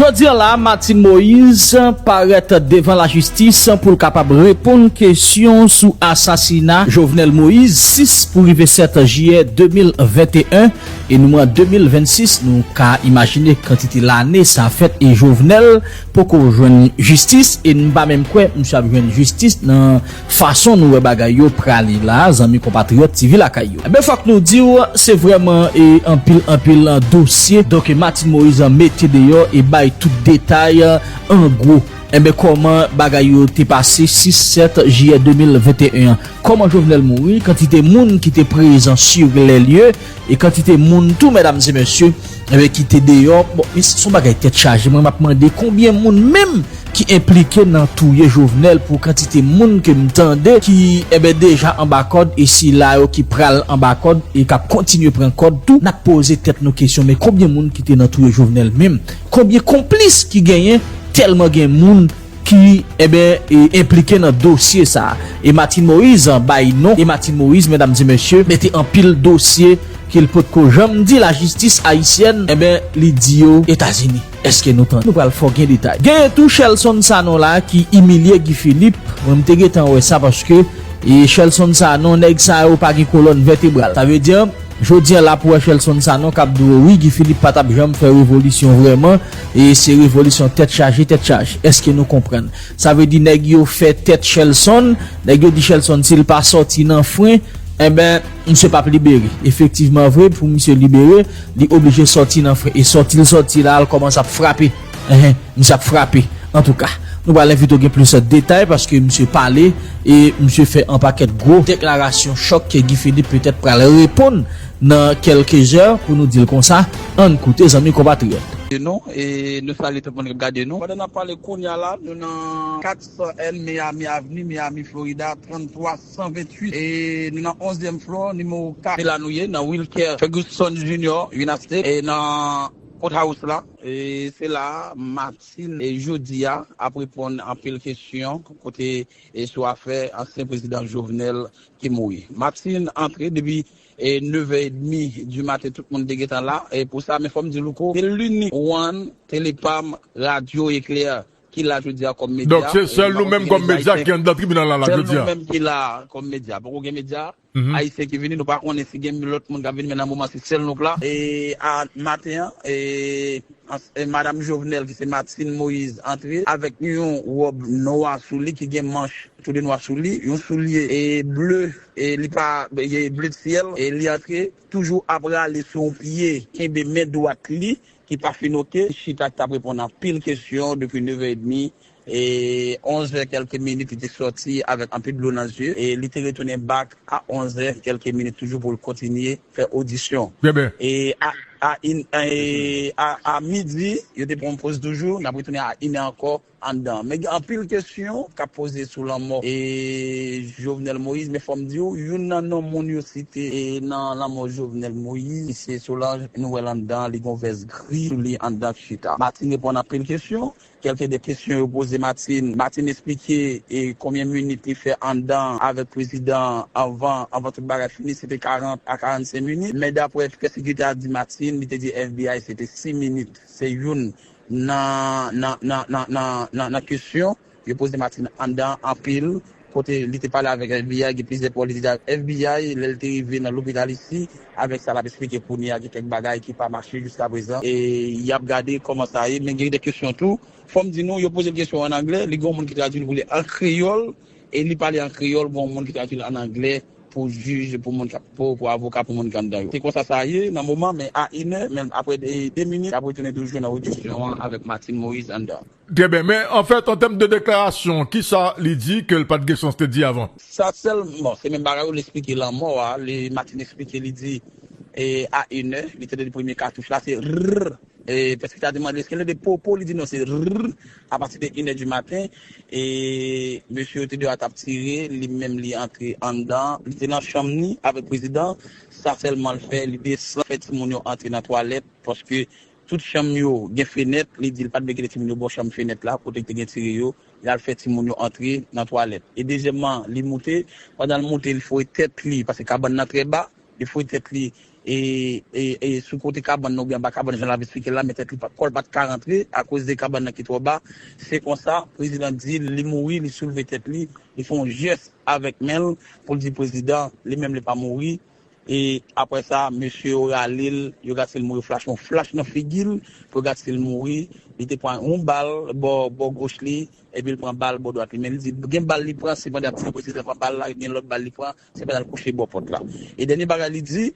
Jodi an la, Martine Moise parèt devan lajistis pou l kapab reponn kesyon sou asasina Jovenel Moise 6 pou rive 7 jiyè 2021 e nou an 2026. Nou ka imajine kantite lane sa fèt e Jovenel poko jwenn jistis e m pa menm kwè misye ap jwenn jistis nan Fason nou wè bagay yo prale la zanmi konpatriyòt TV lakay yo enben fòk nou diw se vrèman e anpil anpil dosye doke Martine Moise mete deyò e bay tout detay an gwo enben kòman bagay yo te pase 6 7 jiyè 2021 an kòman Jovenel mouri kantite moun ki te prezan sur les lieux E kantite moun tou medam e mesye eh ki te deyò bon e son bagay tèt chaje mwen map mande konbyen moun menm ki enplike nan touye Jovenel pou kantite moun ke m tande ki eh deja anba kòd e sila yo ki pral anba kòd e kap kontinye pran kòd tou nap poze tèt nou kesyon men konbyen moun ki te nan touye Jovenel menm konbyen konplis ki genyen tèlman gen moun ki eben enplike nan dosye sa a e Martine Moise bay non e Martine Moise medam e mesye mete anpil dosye ke l pot ko janm di lajistis ayisyèn eben li di yo etazini eske nou tande nou pral fò gen detay genyen tou Shelson Sanon la ki imilye Guy Philippe mwen m te gentan wè sa paske e Shelson Sanon nèg sa yo pa gen kolòn vètebral sa vle di an jodi an la pou wè Shelson Sanon kap di w wi Guy Philippe pa tap janm fè revolisyon vrèman. E se revolisyon tèt chaje tèt chaje. Eske nou konprann? Sa vle di nèg yo fè tèt Shelson, nèg yo di Shelson si l pa sòti nan fren, enben misye p ap libere. Efektivman vre, pou misye libere, li oblije sòti nan fren. E sòti l sòti la, l kòmanse ap frape. Enhen, misye ap frape. Antouka, nou pral envite w gen plis detay paske misye pale e misye fè anpakèt gwo deklarasyon chòk ke Guy Philippe petèt pral reponn. Nan kèlke zè, pou nou di l konsa, ann koute zanmi konpatriyòt. De nou e nou salye tout moun kap gade nou. Pandan nap pale kounya la, nou nan 400 N Miami Avenue, Miami, Florida, 33 128 e nou nan onzyèm floor, nimewo 4. Se la nou ye, nan Wilker Ferguson Junior Unastate e nan Courthouse la. E se la a Martine e jodi a ap reponn anpil kesyon kote e sou afè ansyen prezidan Jovenel ki mouri. Martine antre depi. E 9 è edmi du maten tout moun te gentan la e pou sa men fòm di Louko se linik one tele pam radyo eklèr ki la jodia kòm medya Donk se sèl nou menm kòm medya ki anndan tribinal la la jodia. Sèl nou menm ki la kòm medya poko gen medya ayisyen ki vini nou pa konnen si gen lòt moun kap vini men nan moman se sèl nou k la e a maten an e madam Jovenel ki se Martine Moïse antre avèk yon wòb nwa sou li ki gen manch tou de nwa sou li yon soulye e bleu. E li pa gen bled fyèl e li antre toujou ap rale sou yon pye kenbe men dwat li ki pa fin ok li chita tap reponn anpil kesyon depi 9 è edmi e 11 è kèlke minit li te sòti avèk anpil dlo nan zye e li te retounen bak a 11 è kèlke minit toujou pou l kontinye fè odisyon e a a 1 è e a a midi yo te pran yon poz toujou nap retounen a 1 è ankò. anndan men gen anpil kesyon kap poze sou lanmò e Jovenel Moïse men fòm diw youn nan non moun yo site e nan lanmò Jovenel Moïse se Solange nou wèl anndan li gon vès gri sou li anndan ki chita Martine reponn anpil kesyon kèlke de kesyon yo poze Martine Martine esplike e konbyen minit li fè anndan avèk prezidan anvan anvan tout bagay fini se te 40 a 45 minit men daprè kèlke de a di Martine li te di FBI se te 6 minit se youn Nan, nan, nan, nan, nan, nan, nan kesyon yo poze Martin anndan anpil kote li te pale avèk FBI gen plizyè pawòl li te di ak FBI lè li te rive nan lopital isi avèk sa l ap esplike kounye a gen kèk bagay ki pa mache jiskaprezan e y ap gade kòman sa ye men gen de kesyon tou fò m di nou yo poze l kesyon an anglè li gen yon moun ki tradui l pou li an kreyòl e li pale an kreyòl gen yon moun ki tradui l an anglè pou jij pou moun kap pou pou avoka pou moun ki anndan yo se konsa sa ye nan moman men a inè men aprè de de minit yap retounen toujou nan odisyon an avèk Martine Moïse anndan. Trè byen men anfèt an tèm de deklarasyon kisa li di kel pat gen chans te di avan? Sa sèl bon se menm bagay ou li esplike lanmò a li Martine esplike li di a inè li tande premye katouch la se rrrr e pèskita te mande eskel tande popo li di non se rrrr A pati de inè di maten, e mesye yo te de a t ap tire, li menm li antre anndan, li te nan chanm ni avèk prezidan, sa sèlman l fè, li desann fè timoun yo antre nan twalèt, paske tout chanm yo gen fenèt, li di l pa t vle kite timoun yo bò chanm fenèt la, kote ki te gen tire yo, li al fè timoun yo antre nan twalèt. E dezyèmman, li moute, pandan l moute, li fouye tèt li, paske kabann nan trè ba, li fouye tèt li, e e sou kote kabann nan oubyen anba kabann jan l ap esplike la men tèt li kò l pa t ka rantre akoz de kabann nan ki twò ba se konsa prezidan di l li mouri li soulve tèt li li fè yon jès avèk men l pou l di prezidan li menm li pa mouri e aprè sa mesye yo rale l yo gad si l mouri flach yon flach nan figi l pou yo gad si l mouri li te pran yon bal bò bò goch li epi l pran bal bò dwat li men li di gen bal li pran sepandan prezidan pran bal la gen lòt bal li pran Se pral kouche bò pòt la. E dènye bagay li di,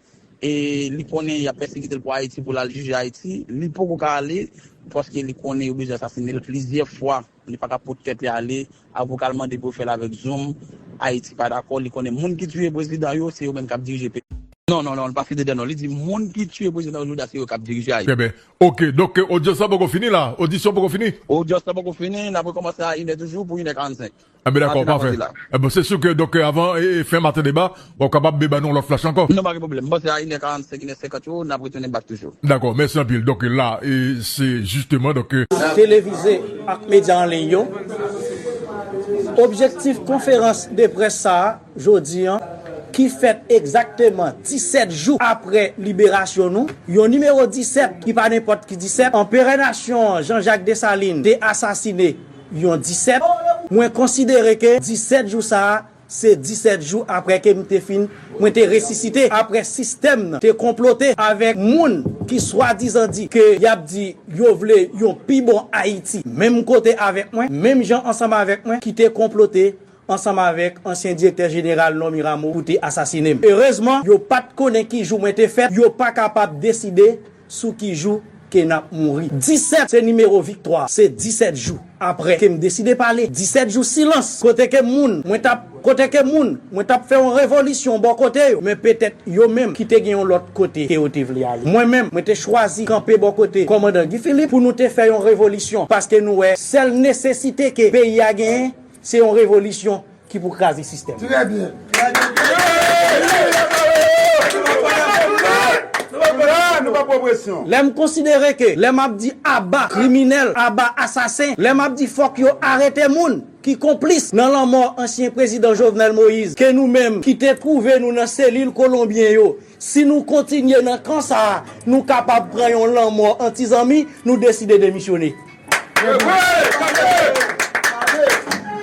e li konnen yap pèsekitel pou Ayiti pou lal jije Ayiti, li poko ka ale paske li konnen yo bezwen asasinel plizyè fwa, li paka pot tèt li ale, avokal mande pou yo fèl avèk zoom, Ayiti pa dakò, li konnen moun ki tiye prezidan yo se yo menm kap dirije peyi. Non non non li pa site de non li di moun ki tiye prezidan yo jodi a se yo kap dirije Ayiti. Trè byen ok donk ke odyans la poko fini la, odisyon poko fini? Odyans la poko fini, nap rekòmanse a inè toujou pou inè 45. Enben dakò, Maten ap pafè. pase la. Enben se si ke donk avan fen maten deba wap kapab be ba nou yon lòt flash ankò. Non pa gen pwoblèm. M panse a inè 45, inè 50 yo nap retounen bak toujou. Dakò, mèsi anpil. Donk la e se jisteman donk. Televize ak medya an liy yo. Objektif konferans de près sa a jodi an ki fèt egzakteman 17 jou apre liberasyon nou, yon nimewo 17 ki pa nenpòt ki 17, Anperè Nasyon an Jean Jacques Dessalines te asasine yon disèt, mwen konsidere ke disèt jou sa a se disèt jou apre ke m te fin, mwen te resisite apre sistèm nan te konplote avèk moun ki swadizan di ke y ap di yo vle yon pi bon Ayiti menm kote avèk mwen, menm jan ansanm avèk mwen ki te konplote ansanm avèk ansyen direktè jeneral Normy Rameau pou te asasine m. Erezman, yo pa t konnen ki jou mwen te fèt, yo pa kapab deside Sou ki jou ke nap mouri. 17 se nimewo viktwa. Se 17 jou apre ke m deside pale. 17 jou silans. Kote ke moun mwen tap Kote ke moun mwen tap fè yon revolisyon bò kote yo. Men petèt yo menm ki te gen yon lòt kote ke yo te vle ale. Mwen menm, mwen te chwazi kanpe bò kote kòmandan Guy Philippe pou nou te fè yon revolisyon. Paske nou wè sèl nesesite ke peyi a genyen se yon revolisyon. Ki pou kraze sistèm. Trè byen. Trè byen. Nou pa pou opresyon. Lè m konsidere ke lè m ap di aba kriminèl, aba asasen, lè m ap di fòk yo arete moun ki konplis nan lanmò ansyen prezidan Jovenel Moïse, ke nou menm ki te twouve nou nan selil kolonbyen yo, si nou kontinye nan kan sa a, nou kapab pran yon lanmò antizanmi, nou deside demisyone.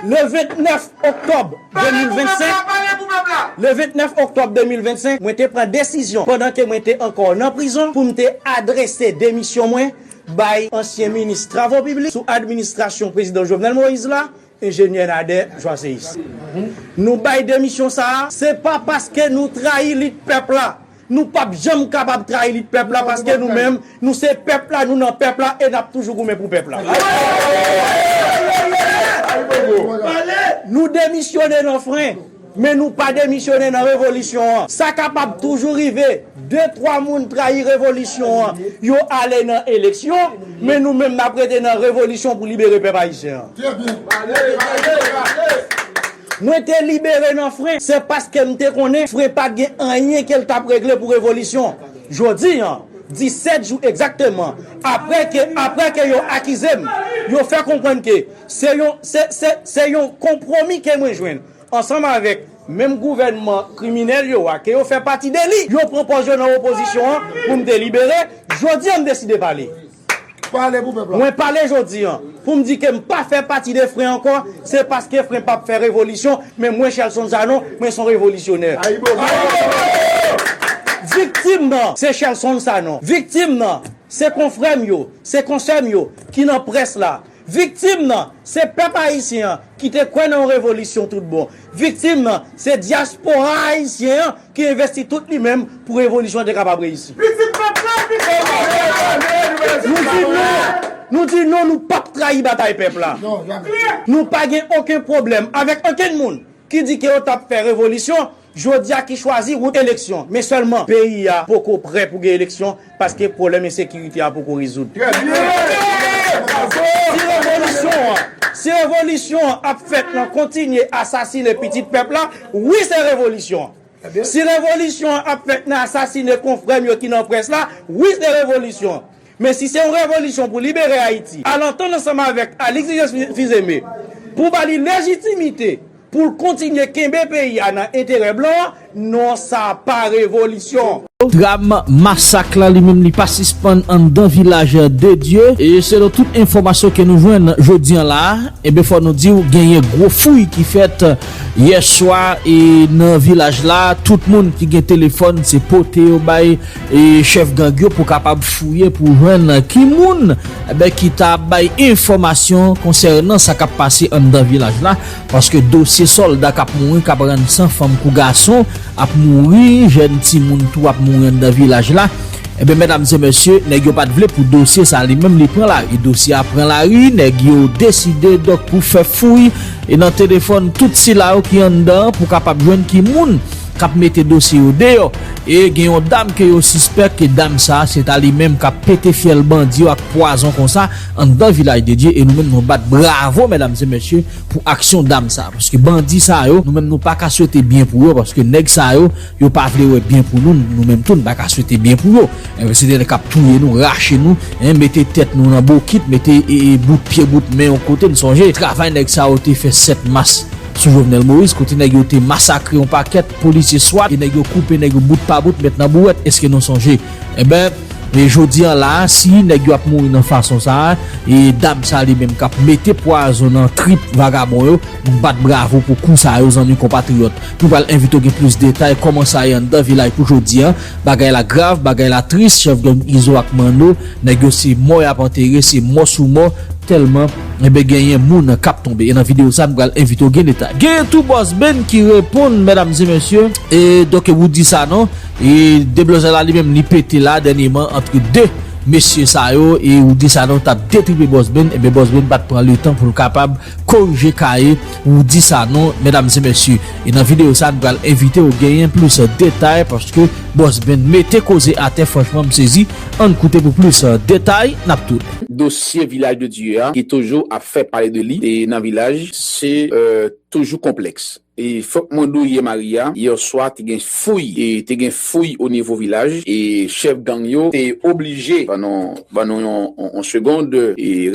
Le 29 oktòb 2025, le 29 oktòb 2025, mwen te pran desizyon pandan ke mwen te ankò nan prizon pou m te adrese demisyon mwen bay ansyen minis travo piblik sou administrasyon prezidan Jovenel Moïse la, Enjenyè Nader Joiséus. Nou bay demisyon sa a, se pa paske nou trayi lit pèp la, Nou pap janm kapab trayi lit pèp la paske nou menm nou se pèp la, nou nan pèp la e nap toujou goumen pou pèp la. Nou demisyone nan fren, men nou pa demisyone nan revolisyon an. Sa kapab toujou rive, de twa moun trayi revolisyon an, yo ale nan eleksyon, men nou menm nap rete nan revolisyon pou libere pèp ayisyen an. Mwen te libere nan fren, se paske m te konnen fren pa t gen anyen ke l t ap regle pou revolisyon. Jodi an, 17 jou egzakteman apre ke apre ke yo akize m, yo fè konprann ke se yon se se se yon konpwomi ke mwen jwenn ansanm avèk menm gouvènman kriminèl yo a ke yo fè pati de li. Yo pran pòz yo nan opozisyon an pou m te libere. Jodi an m deside pale. Pale pou pèp la. Mwen pale jodi an pou m di ke m pa fè pati de fren ankò, se paske fren pap fè revolisyon, men mwen Shelson Sanon, mwen son revolisyonè. Viktim nan se Shelson Sanon, viktim nan se konfrè m yo, se konsè m yo ki nan près la, Viktim nan, se pèp ayisyen an ki te kwè nan yon revolisyon tout bon. Viktim nan, se dyaspora ayisyen an ki envesti tout li menm pou revolisyon an te kapab reyisi. Pitit pèp la, pitit pèp la! Nou di non! Nou di non nou pap trayi batay pèp la! Nou pa gen oken pwoblèm avèk okenn moun ki di ke yo tap fè revolisyon Jodi a ki chwazi wout eleksyon, men sèlman peyi a poko prè pou gen eleksyon paske pwoblèm ensekirite a poko rezoud. Si revolisyon an ap fèt nan kontinye asasine pitit pèp la, wi se revolisyon. Si revolisyon an ap fèt nan asasine konfrè m yo ki nan près la, wi se revolisyon. Men si se yon revolisyon pou libere Ayiti, al antann ansanm avèk Alix Louis-Jean Fils-Aimé pou ba li lejitimite pou l kontinye kenbe peyi a nan enterè blan, non sa pa revolisyon. Dram masak la li menm li pa sispann anndan vilaj de Dye e selon tout enfòmasyon ke nou jwenn jodi an la e ben fò nou diw genyen gwo fouy ki fèt yè swa e nan vilaj la tout moun ki gen telefòn se pote yo bay Chèf gang yo pou kapab fouye pou jwenn ki moun ki ta bay enfòmasyon konsènan sa k ap pase anndan vilaj la paske dosye sòlda k ap mouri, k ap rann san, fanm kou gason ap mouri, jèn timoun tou ap mouri anndan vilaj la. Ebyen, mèdamesemèsye, nèg yo pa t vle pou dosye sa a li menm li pran lari. Dosye a pran lari, nèg yo deside donk pou fè fouy nan telefòn tout sila yo ki anndan an pou kapab jwenn ki moun. kap mete dosye yo deyò e gen yon dam ke yo sispèk ke dam sa se ta li menm kap pete fyèl bandi yo ak pwazon konsa anndan vilaj de Dye e nou menm nou bat bravo mèdam e mesye pou aksyon dam sa paske bandi sa yo nou menm nou paka swete byen pou yo paske nèg sa yo yo pa vle wè byen pou nou nou menm tou nou paka swete byen pou yo e se te nèg kap touye nou rache nou e mete tèt nou nan bokit mete e bout pye bout men yon kote nou sonje travay nèg sa yo te fè 7 mas. Sou Jovenel Moïse kote nèg yo te masakre yon pakèt polisye swat e nèg yo koupe nèg yo bout pa bout met nan bouwèt eske nou sonje enben e jodi an la si nèg yo ap mouri nan fason sa e dam sa li menm kap mete pwazon nan trip vagabon yo nou bat bravo pou kou sa yo zanmi konpatriyòt nou pral envite w gen plis detay kòman sa ye anndan vilaj pou jodi an. Bagay la grav, bagay la tris chèf gang izo ak manno nèg yo se mò yap antere se mò sou mò tèlman enben genyen moun kap tonbe e nan video sa nou pral envite w gen detay. Genyen tou Boss Ben ki reponn medam e mesye. E doke wou di sa non. E deblozay la li menm li pete la dènyeman antre 2 mesye sa yo e wou di sa non tap detripe Boss Ben enben Boss Ben pat pran letan poul kapab korije kaye Pou w di sa non medam e mesye e nan video sa nou pral envite w genyen plis detay paske boss Ben mete koze atè franchman m sezi ann koute pou plis detay nap tounen. Dosye Vilaj de Dye a ki toujou ap fè pale de li e nan vilaj se toujou konplèks e fòk mwen di w yè mari a yèswa te gen fouy e te gen fouy onivo vilaj e chèf gang yo te oblije pran yon Ban nou yon segond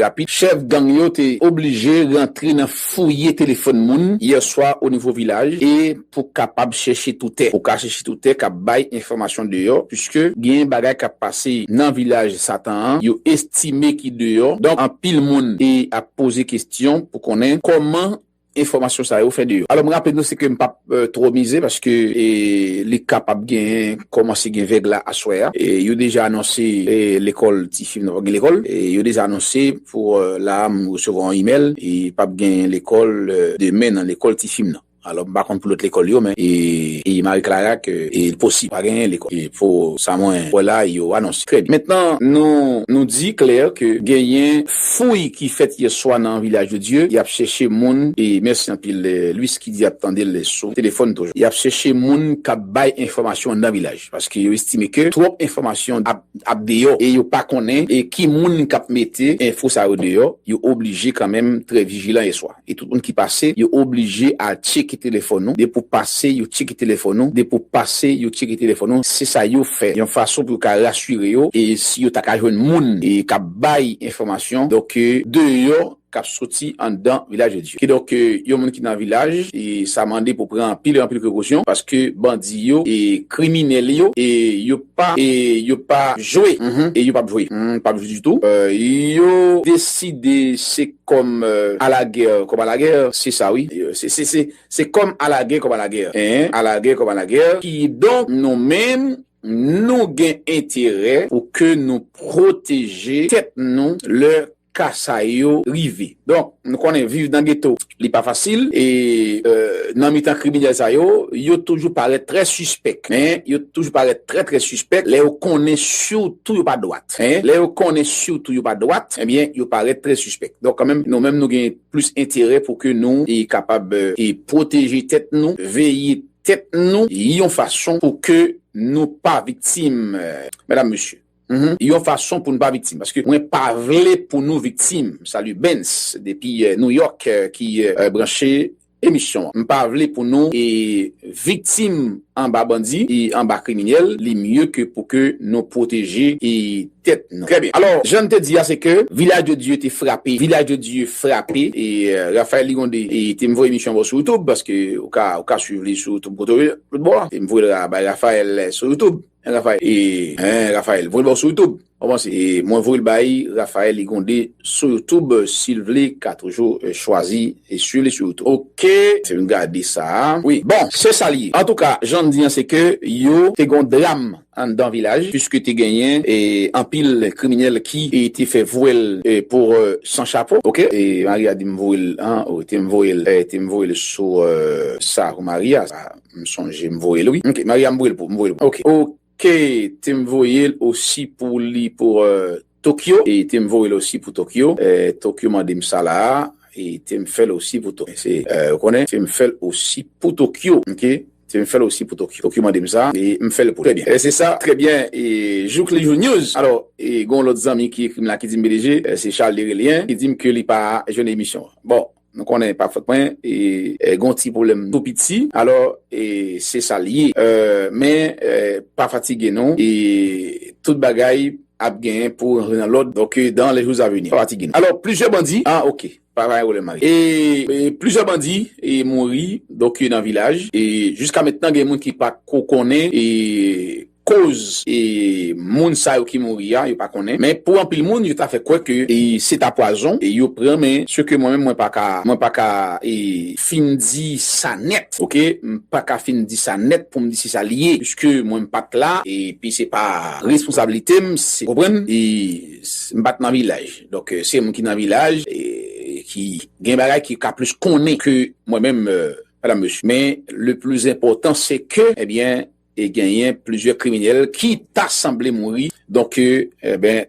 rapid. Chèf gang yo te oblije rantre nan fouye telefòn moun yè swa o nivo vilaj e pou kapab chèche toutè. Ou ka chèche toutè k ap bay enfòmasyon deyò puiske gen bagay k ap pase nan vilaj satan an yo estime ki deyò. Donk anpil moun ap poze kesyon pou konnen kòman Enfòmasyon sa yo fè de yo. Alò m raple nou se ke m pap twò mize paske li kapab gen kòmanse gen vèg la aswè a. Yo deja anonse lekòl ti fi m nan pap gen lekòl. Yo deja anonse pou la a m resevwa yon imèl pap gen lekòl demen nan lekòl ti fi m nan. Alò m pa konn pou lòt lekòl yo men e Marie Clara ke li posib pa gen lekòl pou sa mwen wè la yo anonse. Trè byen. Mentnan nou di klè ke genyen. Fouy ki fèt yè swa nan Vilaj de Dye, yap chèche moun e mèsi anpil Louis ki di yap tande l sou telefòn toujou. Yap chèche moun kap bay enfòmasyon nan Vilaj paske yo estime ke twòp enfòmasyon ap deyò e yo pa konnen ki moun kap mete enfo sa yo deyò, yo oblije kanmenm trè vijilan yè swa. E tout moun ki pase yo oblije al tcheke telefòn ou, depi w pase yo tcheke telefòn ou, depi w pase yo tcheke telefòn ou, se sa yo fè yon fason pou yo ka rasire yo e si yo ta ka jwenn moun k ap bay enfòmasyon donk deyò k ap soti anndan Villageodieu. Kidonk yon moun ki nan vilaj sa mande pou pran anpil anpil prekosyon paske bandi yo e kriminèl yo e yo. pa e yo pa jwe e yo pap jwe n pap jwe ditou yo deside se kòm a la gè kòm a la gè se sa wi se kòm a la gè kòm a la gè en a la gè kòm a la gè kidonk nou menm nou gen enterè pou ke nou pwoteje tèt nou lè ka sa yo rive. Donk, nou konnen viv nan geto, li pa fasil e nan mitan kriminèl sa yo, yo toujou parèt trè sispèk. Men, yo toujou parèt trè trè sispèk lè yo konnen sitou yo pa dwat. Lè yo konnen sitou yo pa dwat, ebyen, yo parèt trè sispèk. Donk, kanmenm, nou menm nou gen plis enterè pou ke nou kapab pwoteje tèt nou, veye tèt nou yon fason pou ke nou pa viktim, medam, mesye. yon fason pou nou pa viktim paske mwen pa vle pou nou viktim salut Bens depi New York ki branche emisyon an m pa vle pou nou viktim anba bandi e anba kriminèl li mye ke pou ke nou pwoteje tèt nou trè byen alò jan n te di a se ke Vilaj de Dye te frape Vilaj de Dye frape e Raphaël Ligonde te m voye emisyon an ba w sou YouTube paske ou ka swiv li sou tout kote ou ye m voye l bay Raphaël sou YouTube. Raphaël e eh Raphaël voyel baw sou youtube Ou panse e mwen voyel bay Raphaël li gonde sou youtube sil vle ka toujou chwazi e swiv li sou youtube ok se vin gade sa wi bon sesa li ye antouka janm di an se ke yo te gon dram anndan vilaj puiske te genyen e anpil kriminèl ki e te fè vwèl e pou san chapo ok e Maria dim voyel an ou tem voyel eh tem voyel sou eh sa pou Maria sa. M sonje m voyel wi. Ok Maria m voyel pou m voyel pou ok. Ok tem voyel osi pou li pour Tokyo e tem voyel osi pou Tokyo Tokyo mandem sa la a e tem fel osi pou Tokyo se ou konnen tem fel osi pou Tokyo ok tem fel osi pou Tokyo Tokyo mandem sa e m fel pou li trè byen e se sa trè byen e jouk li jou news alò e gon lot zanmi ki ekrim la ki dim BDG se Charles li rele hein ki dim ke li pa jwenn emisyon an bon. Nou konnen e pa fòt mwen e gon ti pwoblèm tou piti alò e se sa li ye men pa fatige non e tout bagay ap genyen pou rantre nan lòd ok dans les jours à venir pa fatige non alò plizyè bandi ah ok pa gen pwoblèm mari e plizyè bandi e mouri ok nan vilaj e jiska mentnan gen moun ki pa ko konnen e. koz moun sa yo ki mouri a yo pa konnen men pou anpil moun yo ta fè kwè ke se ta pwazon yo pran men se ke mwen menm mwen pa ka mwen pa ka fin di sa nèt ok m pa ka fin di sa nèt pou m di se sa li ye piske mwen m pat la epi se pa responsablite m se konprann m pat nan vilaj donk se moun ki nan vilaj ki gen bagay ki ka plis konnen ke mwen menm madam mesye men le plis enpòtan se ke ebyen. e genyen plizyè kriminèl ki ta sanble mouri donk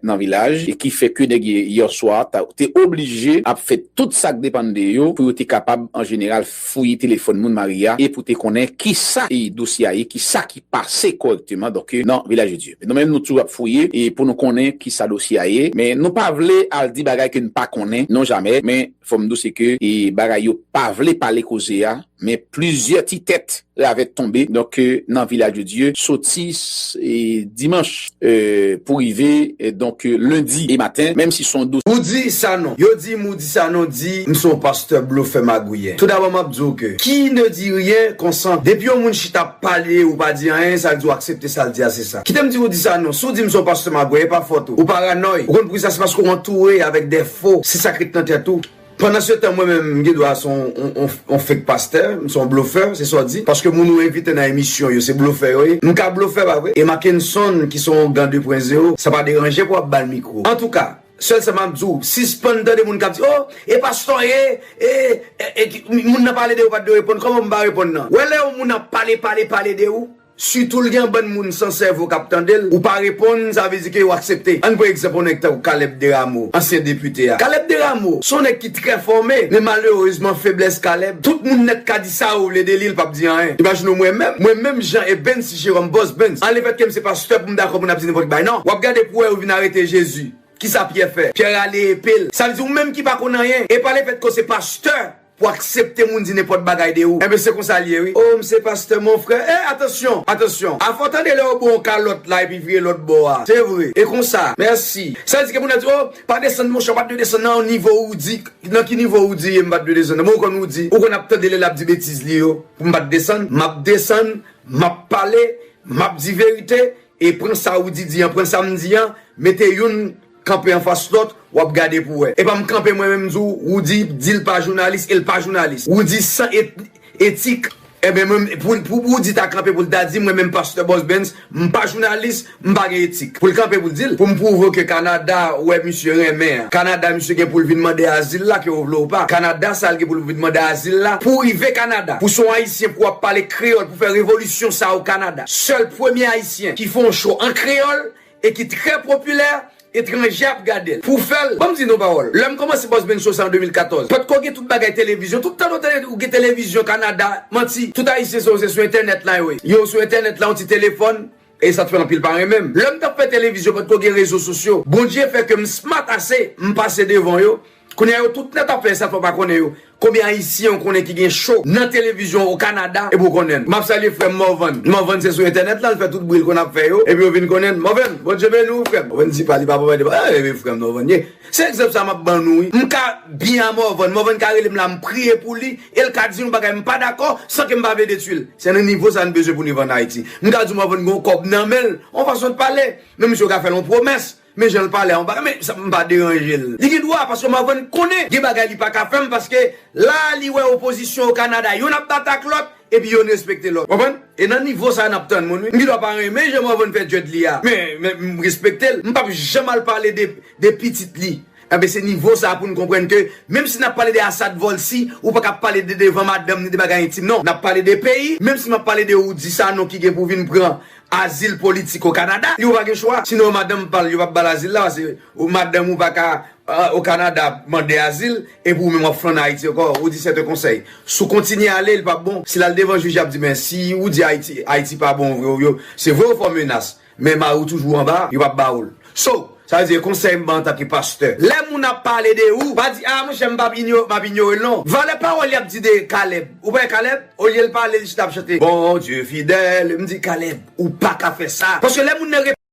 nan vilaj e ki fè ke nèg yè swa te oblije ap fè tout sak depann de yo pou yo te kapab an jeneral fouye telefòn moun Maria e pou te konnen kisa dosye a ye kisa ki pase korèkteman donk nan vilaj de Dye nou menm nou toujou ap fouye e pou nou konnen kisa dosye a ye men nou pa vle al di bagay ke nou pa konnen non jamè men. Fòm di w se ke bagay yo pa vle pale koze a, men plizyè ti tèt ravèt tonbe donk nan Village de Dieu soti dimanch pou rive donk lendi maten menm si son dosye. Ou di Sanon. Yo di m ou di Sanon di m se yon pastè blofè magouyen. Toudabò m ap di w ke qui ne dit rien consent. Depi yon moun chita ap pale ou pa di anyen sa vle di ou aksepte sa l di a se sa. Kite m di w ou di Sanon, si w di m se yon pastè magouyen e pa fòt ou. Ou paranòy. Ou konn poukisa se paske ou antoure avèk dè. fo se sak ret nan tèt ou. Pandan se tan mwen menm m gen dwa se yon fake pastè, m se yon blofè, se sa w di, paske moun ou envite nan emisyon yo se blofè yo ye. M ka blofè pa vre? E Mackenson ki se yon gan 2 pwen zero, sa pa deranje pou w ap ba l mikwo. Antouka, sèl sa m ap di w, sispann tande moun k ap di o, e pastè w ye, e, e, e, moun nan pale de ou pa t dwe reponn, kòman pou m pa reponn nan? Wè lè yon moun ap pale, pale, pale de ou. Sitou l gen yon bann moun san sèvo k ap tande l, ou pa reponn, sa vle di ke yo aksepte. Ann pran egzanp yon nèg tankou Caleb Deramo, ansyen depite a. Caleb Deramo, se yon nèg ki trè fòme, men malerezman feblès Caleb, tout moun nèt ka di sa yo vle de li, l p ap di anyen. Imajine w mwen menm, mwen menm jan e Bens Jeròm, Bòs Bens, an lefèt ke m se pastè pou m dakò pou n ap di nenpòt bagay, nan. W ap gade pou w wè yo vin arete Jezi, kisa Pyè fè? Pyè rale epe l. Sa vle di ou menm ki pa konn anyen, e pa lefèt ke w se pastè, Pou aksepte moun di nenpòt bagay de ou. Enben se konsa l ye wi. Oh m se pastè mon frè eh atansyon, atansyon. Afè w tande lè yo bo w kalòt la epi vire lòt bò a. Se vre. E konsa. Mèsi. Sa di ke moun nan di oh pa desann monchè ou pat dwe desann nan yon nivo ou di nan ki nivo ou di ye m pat dwe desann nan bon ou konn ou di ou konn ap tande lè l ap di betiz li yo pou m pat desann m ap desann m ap pale m ap di verite e pran sa ou di di an pran sa m di an mete youn Kanpe anfas lòt wap gade pou wè. Epa m kanpe mwen menm m di w Roody di l pa jounalis e l pa jounalis. Roody san etik. Enben mwen menm pou Roody ta kanpe pou l ta di mwen menm pastè Bosbens m pa jounalis m pa gen etik. Pou l kanpe pou l di l. Pou m pwouve w ke Kanada wè misye renmen an. Kanada misye gen pou l vin mande azil la ke w vle w pa. Kanada sa l gen pou l vin mande azil la. Pou w rive Kanada. Pou son ayisyen pou wap pale kreyòl pou fè revolisyon sa o Kanada. Sèl premye ayisyen ki fè yon show an kreyòl e ki trè popilè, etranje ap gade l. Pou fè l, ban m di n yon pawòl, lè m kòmanse Boss Ben Show sa an 2014, potko gen tout bagay televizyon, tout tan nou tande di ou gen televizyon Kanada, manti, tout Ayisyen sa yo se sou entènèt la yo ye. Yo sou entènèt la, yon ti telefòn, e sa t fè anpil pa renmen m. Lè m t ap fè televizyon potko gen rezo sosyo. Bondye fè ke m smart ase, m pase devan yo, Kounya yo tout nèt ap fè sa fò pa konnen yo konbyen ayisyen ou konnen ki gen cho nan televizyon o kanada epi ou konnen l map salye frèm Morvan Morvan se sou entènèt lan l fè tout bri l konn ap fè yo epi yo vin konnen l Morvan Bondye beni w frèm Morvan di pa li pa papa de pa eee frèm Morvan ye se egzanp sa map ban nou wi m ka byen a Morvan Morvan ka rele m la m priye pou li e l ka di yon bagay m pa dakò san ke m pa vle detwi l se nan nivo sa n bezwen pou n viv an Ayiti m ka di w Morvan gen yon kòb nan men l yon fason l pale men misye ou ka fè l yon pwomès Men janl pale a on bagay men sa mpa deranjel. Li gen dwa paske m avèn konnen gen bagay li paka fèm paske la li wè opozisyon o Canada yonn ap bat ak lòt epi yonn respekte lòt. Konprann? E nan nivo sa nap tann moun wi. M gen dwa pa renmen jan Morvan fè djòd li a men men m respektel. M pap janm al pale de de pitit li. Enben se nivo sa poun konprann ke menm si nap pale de Assad Volcy ou paka pale de devan madanm ni de bagay entim non. Nap pale de peyi menm si map pale de ou di sa non ki gen pou vin pran azil politik o Kanada, li ou pa gen chwa, sinon yo madanm pa l yo pap ba l azil la pase ou madanm ou pa ka o Kanada ap mande azil epi ou menm wap flanne Ayiti ankò ou di sèt un konsèy si w kontinye ale li pap bon si l al devan jij yap di men si ou di Ayiti Ayiti pa bon vre ou yo se vre ou fè w menas men mari w toujou anba yo pap ba ou l. So, sa vle di e konsèy m ban antanke pastè. Lè moun ap pale de ou, pa di, ah monchè m pap inyo, m ap inyore l non. Valè pawòl y ap di de Caleb. Ou pa wè Caleb? Olye l pale, li chita ap chante, Bondye fidèl, m di, Caleb, ou pa ka fè sa. Paske lè moun nan.